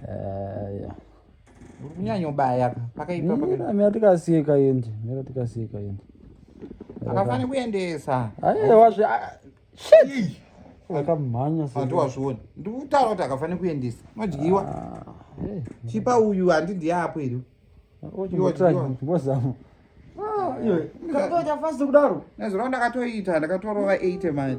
eh, kunyanyobaya pakaipa mira tikasiye kaende mira tikasiye kaende akafanira kuendesa aiwa zve shit akamhanya sati wazviona ndikutaura kuti akafanira kuendesa madyiwa ah, eh. chipa uyu handi ndiye apo iri chimbozama ah, ah, kudaro nezuro ndakatoita ndakatorova 8 mani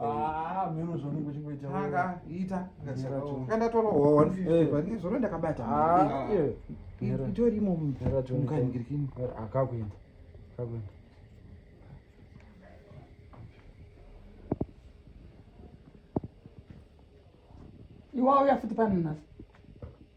Ah, miro zvanenge uchingoita anga ita ngandatorawo 150 ndizvo zvona ndakabata ah, itorimo mukangirikini akakuenda akakuenda iwauya futi pano nhasi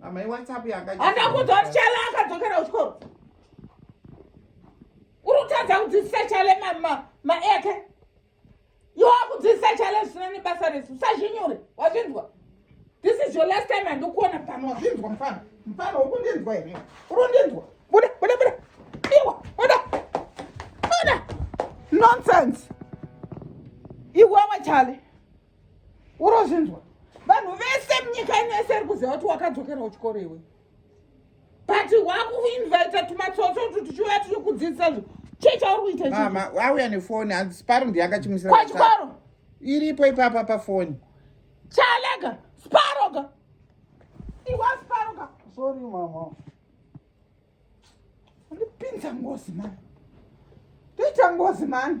Mama iWhatsApp yanga. Andakuudza kuti Chala akadzokera kuchikoro. Uri kutadza kudzidzisa Chala ma ma ma eke. Iwe wakudzidzisa Chala zvisina nebasa resu. Usazvinyure. Wazvinzwa? This is your last time andikuona pano. Wazvinzwa mfana? Mfana ukundinzwa here? Uri kundinzwa? Buda, buda, buda. Iwa, buda. Buda. Nonsense. Iwawa Chala. urozvinzwa vanhu vese munyika ino yese iri kuziva kuti wakadzokera kuchikoro iwe but wakuinvita tumatsotso tu tuchiuya tiri kudzidzisa zvo chii chauri kuita mama auya nefoni hanzi paro ndiye akachimusira kwachikoro iripo ipapa pafoni chalega sparoga iwa sparoga sorry mama ndipinza ngozi mani ndoita ngozi mani